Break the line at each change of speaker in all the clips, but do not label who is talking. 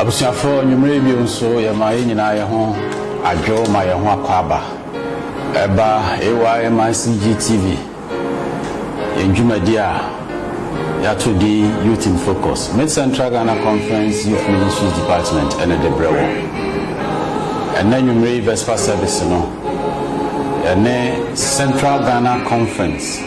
Abusuafo, anwummere yi bio nso, yɛma yɛn nyinaa yɛn ho adwo ma yɛn ho akwaaba. Ɛba AYMICG TV, yɛn dwumadi a yɛato din Youth in Focus, Mid-Central Ghana Conference Youth Ministries Department ɛna de brɛ wo. Ɛnna anwummere yi Vesper service no, ɛne Central Ghana Conference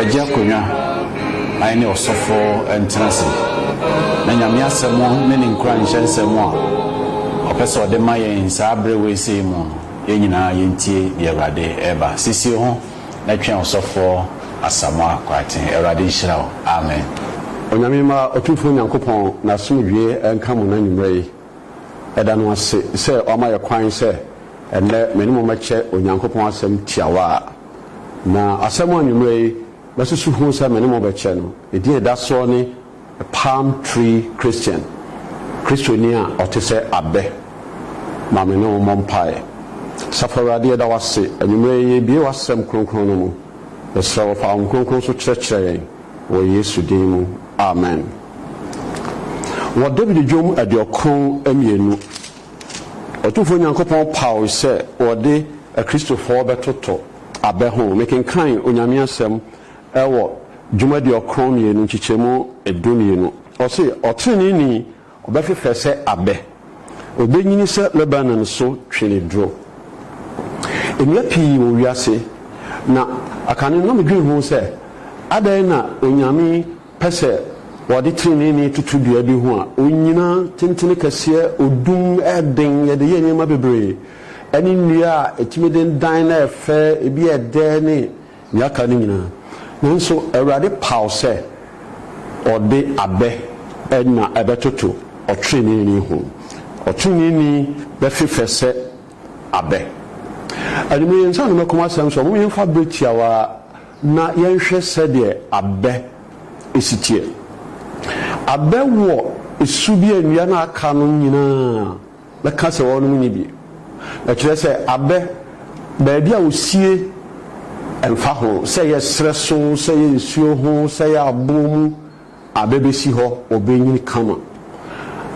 Agye akonwa ae ne ɔsɔfɔ ntena ase na Nyame asɛm ne ne nkuranhyɛ nsɛm a ɔpɛ sɛ ɔde ma yɛn saa bere weesei mu no yɛn nyinaa yɛntie deɛ Awurade reba sisie ho na twɛn ɔsɔfɔ Asamoah Kwarteng Awurade nhyira wo Amen. Onyame mma Otumfoɔ Nyankopɔn n'asomdwie nka mo n'anwummerɛ yi. Yɛda no ase sɛ wama yɛ kwan sɛ ɛnnɛ me ne mo mmɛkyɛ Onyankopɔn Asɛm tiawa a. Na asɛm a anwummerɛ yi mɛsusu ho sɛ me ne mo bɛkyɛ no, ne din a ɛda soɔ ne A Palm Tree Christian, Kristoni a ɔte sɛ abɛ. Ma me ne wo mmɔ mpaeɛ. Asafo Awurade, yɛda wo ase anwummerɛ yi, yɛrebue w'Asɛm kronkron no mu. Yɛsrɛ wo, fa wo Honhom Kronkron so kyerɛkyerɛ yɛn. Wɔ Yesu din mu, amen. Wɔ Dawid Dwom aduokron mmienu, Otumfoɔ Nyankopɔn paw sɛ wɔde Akristofoɔ bɛtoto abɛ ho. Mekenkan Onyame Asɛm wɔ Dwom aduokron mmienu nkyekyɛmu du mmienu. Ɔse, Ɔteneneeni. Ɔbɛfefɛ sɛ abɛ. Obenyini sɛ Lebanon so tweneduro. Nnua pii wɔ wiase, na kane no na midwen ho sɛ, Adɛn na Onyame pɛ sɛ wɔde treneeni toto dua bi ho a onnyina tentene kɛseɛ, odum, ɛyɛ den, yɛde yɛ nneɛma bebree, ɛne nnua a etumi dendan na ɛyɛ fɛ, ebi yɛ dɛ ne. Nea aka no nyinaa. Nanso Awurade paw sɛ ɔde abɛ na ɛbɛtoto ɔtreneeni ho. Ɔtreneeni bɛfefɛ sɛ abɛ. Anwummere yi, ansa na mɛkɔm asɛm nso a, momma yɛmfa bere tiawa na yɛnhwɛ sɛdeɛ abɛ si teɛ. Abɛ wɔ su bi a nnua no a aka no nyinaa. Bɛka sɛ wɔnom nni bi. Ɛkyerɛ sɛ abɛ baabi a wɔsie ɛmfa ho sɛ ɛyɛ serɛ so, sɛ ɛyɛ nsuo ho, sɛ ɛyɛ aboɔ mu, abɛ bɛsi hɔ, wɔbɛnyini kama.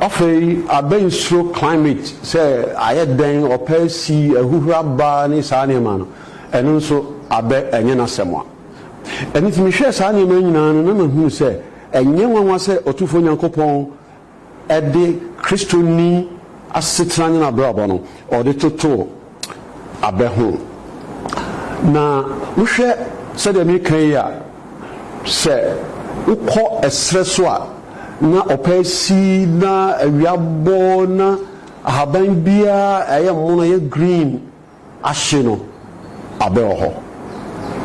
Afei abɛ nsuro climate sɛ ayɛ dɛn, ɔpɛ si, ahuhura ba ne saa nneɛma no, ɛno nso abɛ ɛnyɛ n'asɛm a. Ɛno nti mehwɛɛ saa nneɛma yi nyinaa no na mahunu sɛ ɛnyɛ nwanwa sɛ Otumfoɔ Nyankopɔn de Kristoni asetena ne n'abrabɔ no, ɔde toto abɛ ho. Na wohwɛ sɛdeɛ mereka yi a, sɛ wokɔ ɛserɛ so a, na ɔpɛ asi, na awia abɔ, na ahaban biara a ɛyɛ mono, ɛyɛ green, ahye no abɛ wɔ hɔ.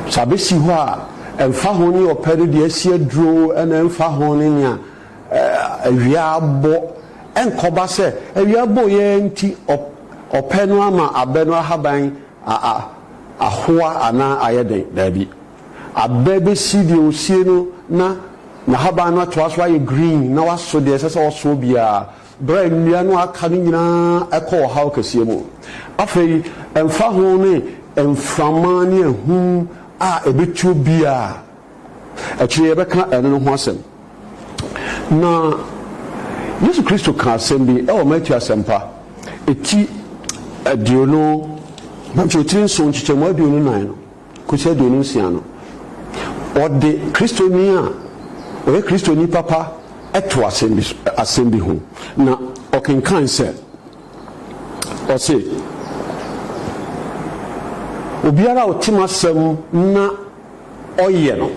Sɛ abɛ si hɔ a, ɛnfa ho ne ɔpɛ no deɛ asi aduro ɛna ɛnfa ho ne nea awia abɔ, ɛnkɔba sɛ awia abɔ yi ara nti ɔpɛ no ama abɛ no ahaban ahoa anaa ayɛ den. Daabi. Abɛ bɛsi deɛ ɔsie no na n'ahaban no atoa so ayɛ green na waso deɛ ɛsɛ sɛ ɔsoɔ biara. Bere a nnua no aka no nyinaa kɔ ɔhaw kɛseɛ mu. Afei, ɛmfa ho ne mframa ne ahum a ɛbɛtuo biara a, akyire yi yɛbɛka ɛno no ho asɛm. Na Yesu Kristo kaa asɛm bi wɔ Matthew Asɛmpa ti aduonu, nkyerɛkyerɛ nson, nkyekyɛmu aduonu nan no, kosi aduonu nsia no, wɔde Kristoni a ɔyɛ Kristoni papa to asɛm bi so, asɛm bi ho, na ɔkenkan sɛ, ɔse, Obiara a ɔte m'asɛm na ɔyɛ no,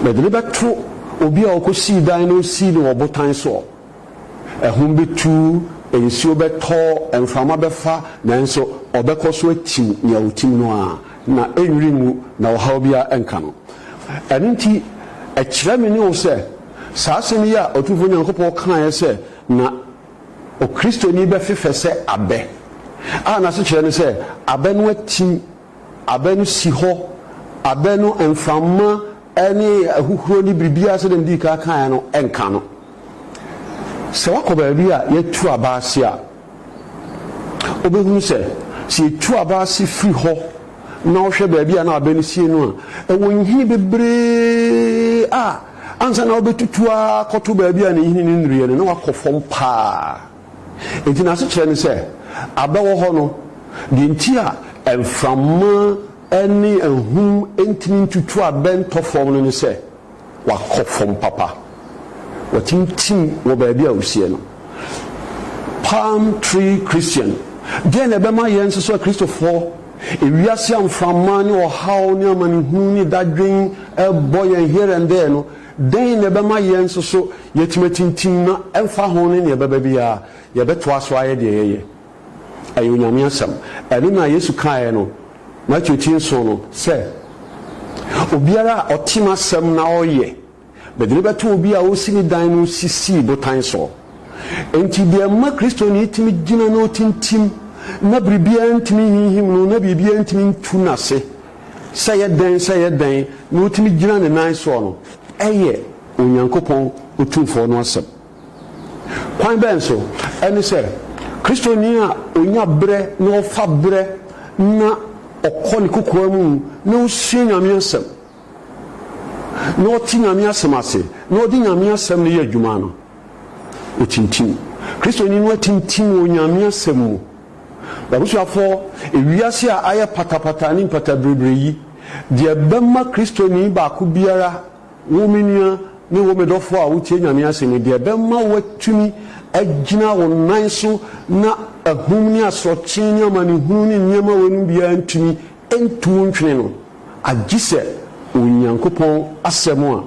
mede no bɛto obi a ɔkɔsii dan na ɔsii no wɔ ɔbotan soɔ. Ahum betu, nsuo bɛtɔ, mframa bɛfa, nanso ɔbɛkɔ so atim nea ɔretim no ara, na ɛnnwiri ngu, na ɔhaw biara renka no. Ɛno nti, ɛkyerɛ me ne wo sɛ, saa asɛm yi a Otumfoɔ Nyankopɔn kaeɛ sɛ na Okristoni bɛfefɛ sɛ abɛ, a n'asekyerɛ ne sɛ abɛ no atim, Abɛ no si hɔ, abɛ no mframa ne ahuhuro ne biribiara sɛdeɛ mede kan kaeɛ no nka no. Sɛ woakɔ baabi a yɛatu aba ase a, wobɛhunu sɛ, sɛ yɛtu aba ase firi hɔ na wohwɛ baabi a na abɛ no sie no a, ɛwɔ nhini bebree a ansa na wobɛtutu akɔto baabi a ne nhini no nnuruiɛ no, na woakɔ fam paa. Nnyinasokyerɛ ne sɛ, abɛwɔ hɔ no, deɛ nti a mframa ne ahum ntumi ntutu abɛ ntɔ fam no ne sɛ, wɔakɔ fam papa. Wɔatintim wɔ baabi a ɔsiɛ no. Palm Tree Christian, Deɛn na ɛbɛma yɛn nso so Akristofoɔ, ewiase a mframa ne ɔhaw ne amanehunu ne dadwen bɔ yɛn here and there no, Dɛn na ɛbɛma yɛn nso so yɛatumi atintim na ɛmfa ho ne nea ɛbɛba biara, yɛbɛtoa so ayɛ deɛ yɛyɛ? Ɛyɛ Onyame asɛm. Ɛno na Yesu kaeɛ no, Mateo ti nson no, sɛ, Obiara a ɔte m'asɛm na ɔyɛ, mede no bɛto obi a ɔresi ne dan no sisii botan soɔ. Enti deɛ ɛma Kristoni tumi gyina na ɔtintim na biribiara ntumi nhinhim no na biribiara ntumi ntu no ase Sɛ ɛyɛ dɛn sɛ ɛyɛ dɛn na otumi gyina ne nan soɔ no, ɛyɛ Onyankopɔn Otumfoɔ no asɛm. Kwan bɛn so? Ɛne sɛ, Kristoni a ɔnya berɛ na ɔfa berɛ na ɔkɔ ne kokoa mu na ɔsua Nyame Asɛm, na ɔte Nyame Asɛm ase, na ɔde Nyame Asɛm no yɛ adwuma no, ɔtintim. Kristoni no atintim wɔ Nyame Asɛm mu. M'abusuafoɔ, ewiase a ayɛ patapata ne mpatabiribiri yi, deɛ ɛbɛma Kristoni baako biara, wo me nua ne wo me dɔfoɔ a wotie Nyame asɛm yi, deɛ ɛbɛma woatumi agyina wo nan so na ahum ne asorɔkye ne amanehunu ne nneɛma weinom biara ntumi ntu wo ntwene no, agyesɛ Onyankopɔn asɛm a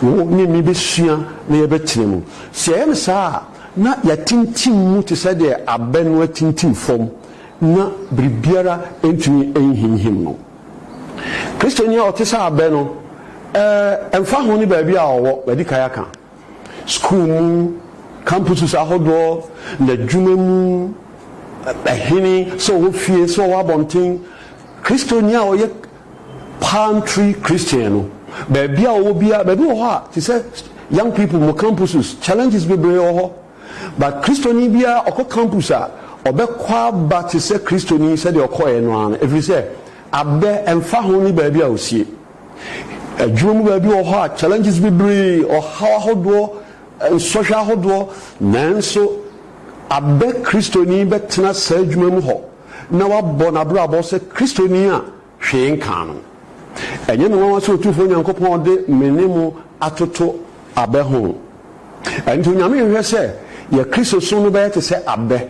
Wo ne me bɛsua na yɛbɛtena mu. Sɛ yɛyɛ no saa a, na yɛatintim mu te sɛ deɛ abɛ no atintim fam na biribiara ntumi nhinhim no. Kristoni a ɔte sɛ abɛ no, ɛmfa ho ne baabi a ɔwɔ, madi kan aka, sukuu mu, campuses ahodoɔ, n'adwuma mu, ɛhene, sɛ ɔwɔ fie, sɛ ɔwɔ abɔnten, Kristoni a ɔyɛ Palm Tree Christian no, baabi a ɔwɔ biara, baabi wɔ hɔ a, te sɛ young people mo campuses, challenges bebree wɔ hɔ. But Kristoni biara ɔkɔ campus a, ɔbɛkɔ aba te sɛ Kristoni sɛdeɛ ɔkɔeɛ no ara no, ɛfiri sɛ abɛ, ɛmfa ho ne baabi a ɔsie. Adwuma mu baabi wɔ hɔ a, challenges bebree, ɔhaw ahodoɔ, nsɔhwɛ ahodoɔ, nanso abɛ Kristoni bɛtena saa adwuma mu hɔ. na wabɔ n'abrabɔ sɛ Kristoni a hwee nkaa no. Ɛnyɛ me nwanwa sɛ Otumfoɔ Nyankopɔn de me ne mo atoto abɛ ho. Ɛno nti, Onyame nhwehwɛ sɛ yɛn Kristosom no bɛyɛ te sɛ abɛ.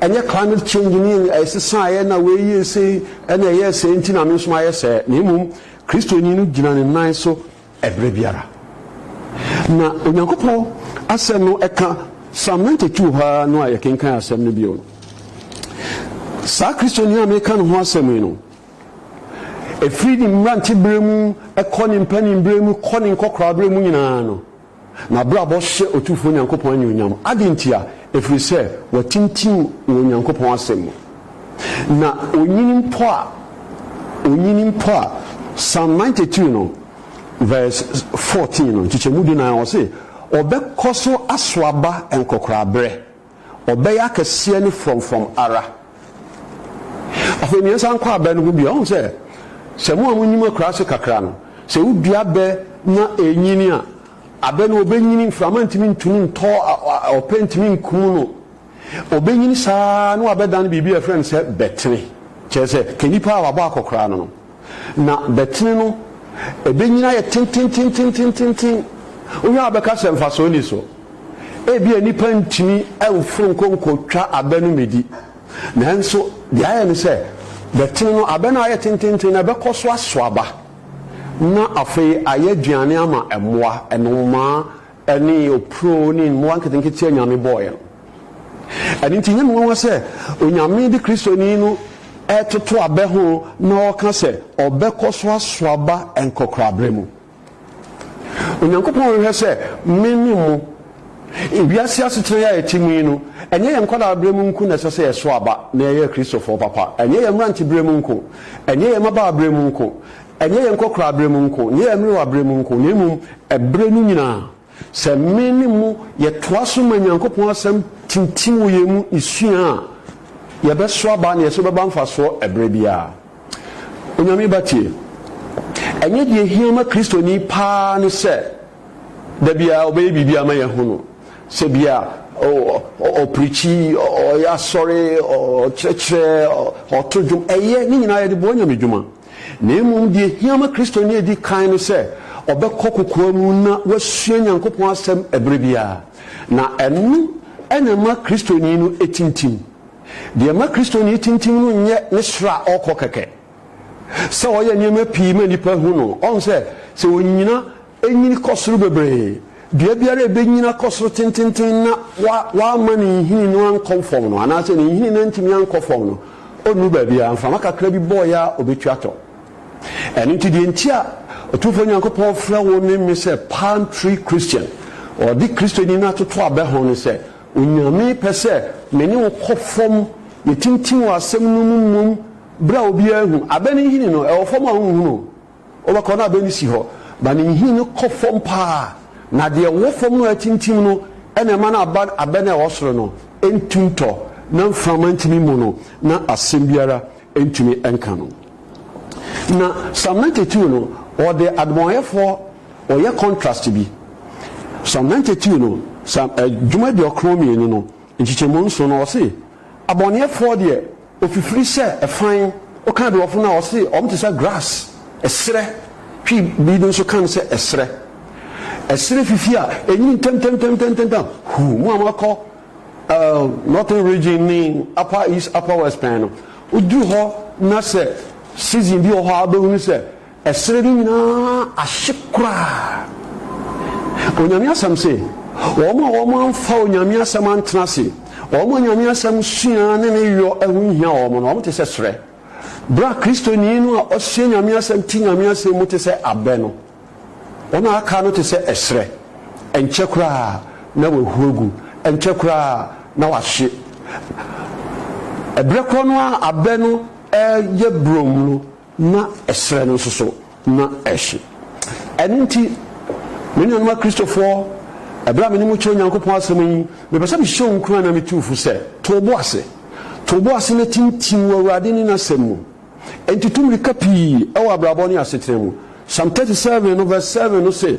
Ɛnyɛ climate change ne yɛn ɛsesaeɛ na wei yɛɛ sei na ɛyɛɛ sɛɛ nti na me nso mayɛ sɛɛ, na mmom Kristoni no gyina ne nan so Ɛberɛ biara. Na Onyankopɔn asɛm no ɛka Psalm 92 hɔ ara no a yɛkenkan asɛm no bio no. Saa Kristoni a meka ne ho asɛm yi no, ɛfiri ne mmeranteberɛ mu kɔ ne mpaninberɛ mu kɔ ne nkɔkoraaberɛ mu nyinaa no, N'abrabɔ hyɛ Otumfoɔ Nyankopɔn anuonyam. Adɛn ntia? Ɛfiri sɛ watintim wɔ Onyankopɔn Asɛm mu. Na ɔnyini mpo a, ɔnyini mpo a, Psalm ninety two no verse fourteen no, nkyekyɛmu dunan, ɔse, Ɔbɛkɔ so aso aba nkɔkoraberɛ. ɔbɛyɛ akɛseɛ ne frɔmfrɔm ara. Afei nea ɛsan kɔ abɛ no ho bio, ɔhu sɛ sɛ mo a monim akuraase kakra no, sɛ wodua abɛ na ɛrenyini a, abɛ no ɔbɛnyini, mframa ntumi ntumi ntɔ, ɔpɛ ntumi nkum no, ɔbɛnyini saa na wabɛdane biribi a yɛfrɛ no sɛ bɛtene, kyerɛ sɛ kanipa a wabɔ akɔkoraa no no. Na bɛtene no, ɛbɛnyini ayɛ tentententententen. Wohwɛ a wobɛka sɛ mfasoɔ nni so. Ebia nnipa ntumi mforo nkɔ nkɔtwa abɛ no mmɛdi. Nanso deɛ ayɛ ne sɛ, bɛtene no, abɛ no a ayɛ tententen no, ɛbɛkɔ so aso aba, na afei ayɛ aduane ama mmoa, nnomaa, ne opuro ne mmoa nketenkete a Nyame bɔeɛ no. Ɛno nti ɛnyɛ me nwanwa sɛ Onyame de Kristoni no retoto abɛ ho na ɔreka sɛ ɔbɛkɔ so aso aba nkɔkoraaberɛ mu. Onyankopɔn hwehwɛ sɛ me ne mo, wiase asetena yi a yɛte mu yi no, ɛnyɛ yɛn nkwadaaberɛ mu nko na ɛsɛ sɛ yɛso aba na yɛyɛ Kristofoɔ papa, ɛnyɛ yɛn mmeranteberɛ mu nko, ɛnyɛ yɛn mmabaaberɛ mu nko, Ɛnyɛ yɛn nkɔkoraaberɛ mu nko, ɛnyɛ yɛn mmerewaberɛ mu nko, na mmom ɛberɛ no nyinaa. Sɛ me ne mo yɛtoa so ma Nyankopɔn Asɛm tintim wɔ yɛn mu sua a, yɛbɛso aba na yɛso bɛba mfasoɔ ɛberɛ biara. Onyame Ba tie. Ɛnyɛ deɛ ɛhia ma Kristoni paa ne sɛ da biara ɔbɛyɛ biribi ama yɛahu no, sɛ bi a ɔprikyi, ɔyɛ asɔre, ɔkyerɛkyerɛ, ɔto dwom. Ɛyɛ, ne nyinaa yɛde boa Nyame dwuma. Na mmom deɛ ɛhia ma Kristoni a ɛdi kan ne sɛ ɔbɛkɔ kokoa mu na wasua Nyankopɔn Asɛm ɛberɛ biara, na ɛno na ɛma Kristoni no tintim. Deɛ ɛma Kristoni tintim no nyɛ ne soro a ɔrekɔ kɛkɛ, sɛ ɔyɛ nneɛma pii ma nnipa hu no, ɔhu sɛ sɛ ɔnyina, Enyin kɔ soro bebree. Dua biara a ebenyin akɔ soro tenteenten na wamma ne nhini no ankɔ fam no, anaasɛ ne nhini no antumi ankɔ fam no, onnu baabiara. Mframa kakra bi bɔ yɛ a, obetu atɔ. Ɛno nti, deɛ nti a Otumfoɔ Nyankopɔn frɛ wo ne me sɛ palm tree Christian, ɔde Kristoni no atoto abɛ ho, ne sɛ Onyame pɛ sɛ me ne wo kɔ fam, yɛtintim wɔ Asɛm no mu mmom bere a obiara nhu. Abɛ no nhini no, ɛwɔ fam a wonhunu o. Ɔbɛkɔ na abɛn no si hɔ ma ne nhini no kɔ fam paa, na deɛ ɛwɔ fam no a atintim no na ɛma no aba abɛn a ɛwɔ soro no ntu ntɔ, na mframa ntumi mmɔ no, na asɛm biara ntumi nka no. Na Psalm ninety two no, wɔde adebɔneyɛfoɔ wɔyɛ contrast bi. Psalm ninety two no, Psalm, Dwom aduɔkron mmienu no, nkyekyɛmu nson no, ɔse, Abɔneyɛfoɔ deɛ, Ofifiri sɛ ɛfan, woka Aduɔfo no a wɔse wɔn te sɛ grass, ɛserɛ, Twi bi no nso ka no sɛ ɛserɛ, ɛserɛ fifi a ɛnyini ntɛmntɛmntɛmntɛmntɛm, huu, mo a moakɔ Northern Region ne Upper East, Upper West pɛn no, woduru hɔ na sɛ season bi wɔ hɔ a wobɛhunu sɛ. Ɛserɛ no nyinaa ahye koraa. Onyame asɛm se, Wɔn a wɔn amfa Onyame asɛm antena ase, wɔn a Onyame asɛm sua ne ne yɔ ho nhia wɔn no, wɔn te sɛ serɛ. Berɛ a Kristoni no a ɔsua Nyame asɛm te Nyame asɛm mu te sɛ abɛ no, wɔn a aka no te sɛ ɛserɛ. Ɛnkyɛ koraa na wɔahu agu, ɛnkyɛ koraa na wɔahye. Ɛberɛ korɔ no a abɛ no reyɛ burom no, na ɛserɛ no nso so na ɛhye. Ɛno nti, me nuanom Akristofoɔ, ɛberɛ a me ne mo kyerɛ Onyankopɔn asɛm yi, mepɛ sɛ mehyɛ wo nkuran na metu wo fo sɛ, to wo bo ase. To wo bo ase na tintim wɔ Awurade ne N'asɛm mu. Enti tu mmirika pii wɔ abrabɔ ne asetena mu. Psalm 37 no vs 7 no se.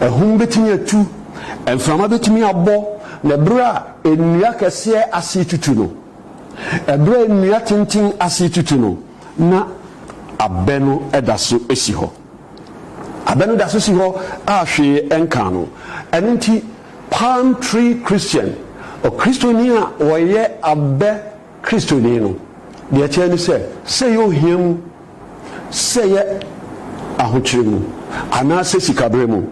Ahum betumi atu, mframa betumi abɔ, na bere a nnua akɛseɛ ase retutu no, bere a nnua tenten ase retutu no, na abɛ no da so si hɔ. Abɛ no da so si hɔ a hwee nka no. Ɛno nti, palm tree Christian, Okristoni a ɔyɛ abɛ Kristoni no, deɛ ɛkyerɛ ne sɛ, sei ɔhia mu. sɛ ɛyɛ ahokyere mu anaasɛ sikabere mu,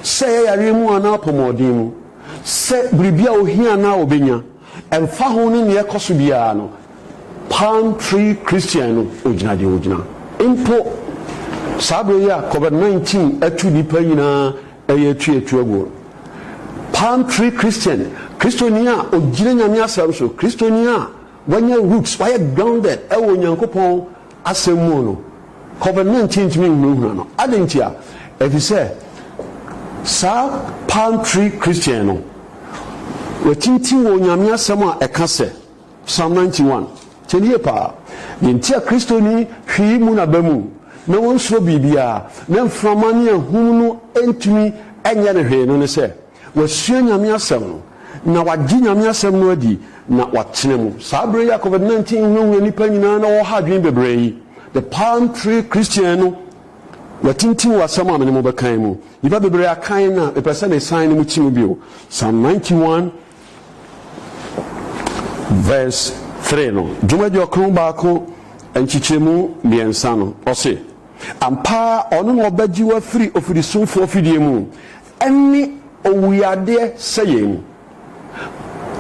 sɛ ɛyɛ yareɛ mu anaa apɔmɔɔden mu, sɛ biribi a ɔhia anaa ɔbɛnya, ɛmfa ho ne nea ɛkɔ so biara no, Palm Tree Christian no, ɔgyina deɛ ɔgyina. Mpo saa berɛ yi a Covid 19 atu nnipa nyinaa ɛyɛ atu atu aguo no, Palm Tree Christian, Kristoni a ɔgyina Nyame Asɛm so, Kristoni a wanya roots, wayɛ grounded ɛwɔ Onyankopɔn asɛm mu no, Covid-19 ntumi nhunahuna no. Adɛn ntia? Efisɛ saa palm tree Christian no, watintim wɔ Onyame Asɛm a ɛka sɛ, Psalm ninety one, tie no yie paa, Deɛ nti a Kristoni hwi yi mu n'aba mu na ɔnsuro biribiara, na mframa ne ahum no ntumi nyɛ no hwee no ne sɛ, Wɔasua Nyame Asɛm no, na wɔagye Nyame Asɛm no adi, na wɔatena mu. Saa berɛ yi a Covid-19 hunahuna nnipa nyinaa na wɔwɔ ha adwene bebree yi, The Palm Tree Christian no na tintim wɔ asɛm a me ne mo bɛka yi mu. Nnipa bebree a kan na mepɛ sɛ mesan ne mo ti mu bio. Psalm 91 verse 3 no, Dwomadi Ɔkron Baako nkyekyɛmu mmiɛnsa no, ɔse, Ampa ara ɔno na ɔbɛgye wo afiri ofirisumfoɔ afidie mu, Ɛnne owuyadeɛ sɛ yɛn.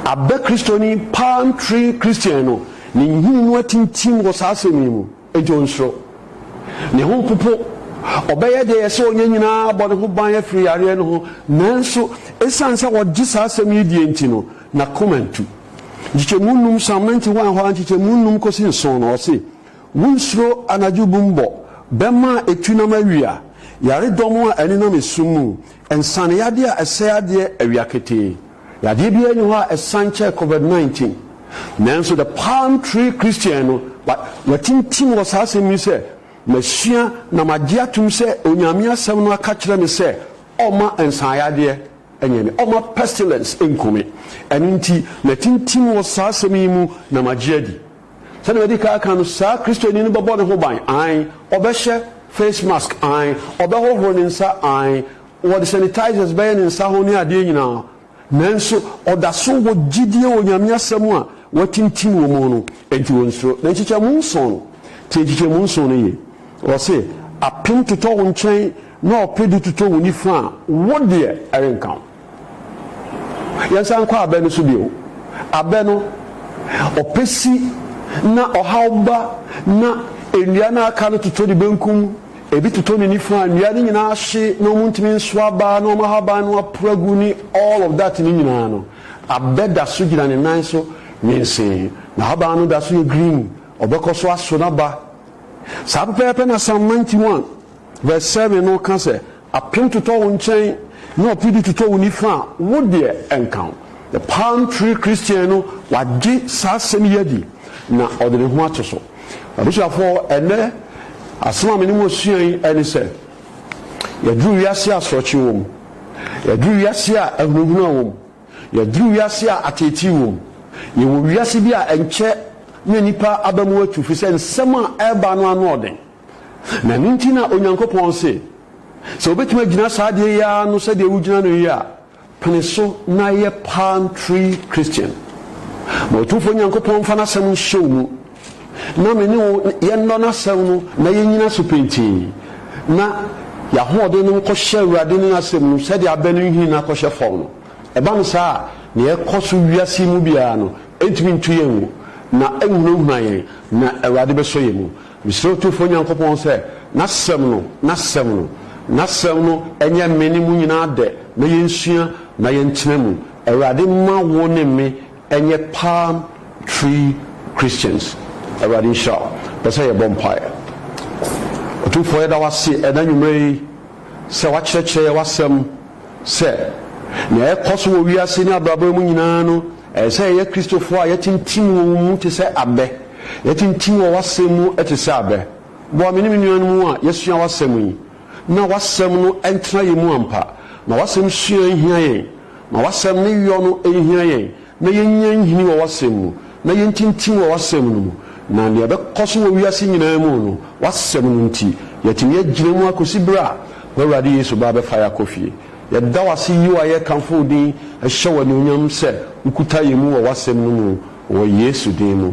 Abɛ Kristoni, palm tree Christian, no, ne nhini no atintim wɔ saa asɛm yi mu, enti ɔnsuro. Ne ho mpopo. Ɔbɛyɛ deɛ ɛsɛ ɔnyɛ nyinaa abɔ ne ho ban afiri yareɛ no ho, nanso ɛsiane sɛ ɔgye saa asɛm yi die nti no, n'akoma ntu. Nkyekyɛmu nnum, Sam Menti-Hwan-Hwa, nkyekyɛmu nnum kɔsi nson no, ɔse, Wunsuro anadwo bum bɔ, bɛmma a etu nam awia, yaredɔm a ɛnenam esum mu, nsaneyadeɛ a ɛsɛe adeɛ awia ketee. Yadeɛ biara nni hɔ a ɛsan kyɛɛ covid nineteen. Nanso The Palm Tree Christian no, wa, watintim wɔ saa asɛm yi sɛ, Masua na magye atom sɛ Onyame Asɛm no aka kyerɛ me sɛ ɔmma nsaneyadeɛ nyɛ me, ɔmma pestilence nku me. Ɛno nti, matintim wɔ saa asɛm yi mu na magye adi. Sɛnea madi kan aka no, saa Kristoni no bɛbɔ ne ho ban, aane, ɔbɛhyɛ face mask, aane, ɔbɛhohoro ne nsa, aane, wɔde sanitizers bɛyɛ ne nsa ho ne adeɛ nyinaa, nanso ɔda so wɔ gyidie wɔ Nyame Asɛm a wɔatintim wɔ mu no, enti ɔnsuro. Na nkyekyɛmu nson no, tie nkyekyɛmu nson no yie, ɔse, Apem totɔ wo nkyɛn na ɔpedu totɔ wo nifa a, wo deɛ ɛrenka wo. Yɛnsan nkɔ abɛ no so bio. Abɛ no, ɔpɛ si na ɔhaw ba na nnua no a aka no totɔ ne benkum, ebi totɔ ne nifa, nnua no nyinaa ahye na wɔn ntumi nso aba na wɔn ahaban no aporo agu ne all of that no nyinaa no, abɛ da so gyina ne nan so nwensee. N'ahaban no da so yɛ green, ɔbɛkɔ so aso n'aba. Saa pɛpɛɛpɛ na Psalm ninety one verse seven no ka sɛ, Apem totɔ wo nkyɛn na ɔpedu totɔ wo nifa a, wo deɛ ɛnka wo. The Palm Tree Christian no, wagye saa asɛm yi adi na ɔde ne ho ato so. M'abusuafoɔ, ɛnnɛ asɛm a me ne mo resua yi ne sɛ, Yɛaduru wiase a asorɔkye wɔ mu. Yɛaduru wiase a ahunahuna wɔ mu. Yɛaduru wiase a ateetee wɔ mu. Yɛwɔ wiase bi a ɛnkyɛ na nnipa aba mu atu, ɛfiri sɛ nsɛm a ɛreba no ano ɔden. Na ɛno nti na Onyankopɔn se, Sɛ wobɛtumi agyina saa adeɛ yi ara ano sɛdeɛ wogyina no yi a, pene so na yɛ palm tree Christian. Ma Otumfoɔ Nyankopɔn mfa N'asɛm nhyɛ wo mu, na me ne wo yɛnnɔ N'asɛm no na yɛnnyina so pintinn, na yɛahoɔden no nkɔhyɛ Awurade ne N'asɛm mu sɛdeɛ abɛ no nhini no akɔhyɛ fam no. Ɛba no saa a, nea ɛkɔ so wiase yi mu biara no ntumi ntu yɛn ngo, na ɛnhunahuna yɛn, na Awurade bɛsɔ yɛn mu. Mesrɛ Otumfoɔ Nyankopɔn sɛ N'Asɛm no, N'Asɛm no, N'Asɛm no nyɛ me ne mo nyinaa dɛ na yɛnsua na yɛntena mu. Awurade mma wo ne me nyɛ palm tree Christians. Awurade nhyira wo. Pɛ sɛ yɛbɔ mpaeɛ. Otumfoɔ yɛda wo ase ɛna anwummerɛ yi. sɛ wɔakyerɛkyerɛ yɛn w'Asɛm sɛ nea ɛrekɔ so wɔ wiase ne abrabɔ yi mu nyinaa no, ɛsɛ sɛ yɛyɛ Kristofo a yɛatintim wɔ wo mu te sɛ abɛ. Yɛatintim wɔ w'Asɛm mu te sɛ abɛ. Boa me ne me nuanom a yɛasua w'Asɛm yi na w'Asɛm no ntena yɛn mu ampa. Ma w'Asɛm sua nhia yɛn. Ma w'Asɛm ne yɔ no nhia yɛn. na yennya nhini wɔ w'asɛm mu, na yentintim wɔ w'asɛm no mu, na nea ɛbɛkɔ so wɔ wiase nyinaa mu no, w'asɛm no nti, yɛatumi agyina mu akosi bere a w'Awurade Yesu ba bɛfa yɛn akɔ fie. Yɛda wo ase yiw a yɛkamfo wo din hyɛ wo anuonyam sɛ wokuta yɛn mu wɔ w'asɛm no mu wɔ Yesu din mu.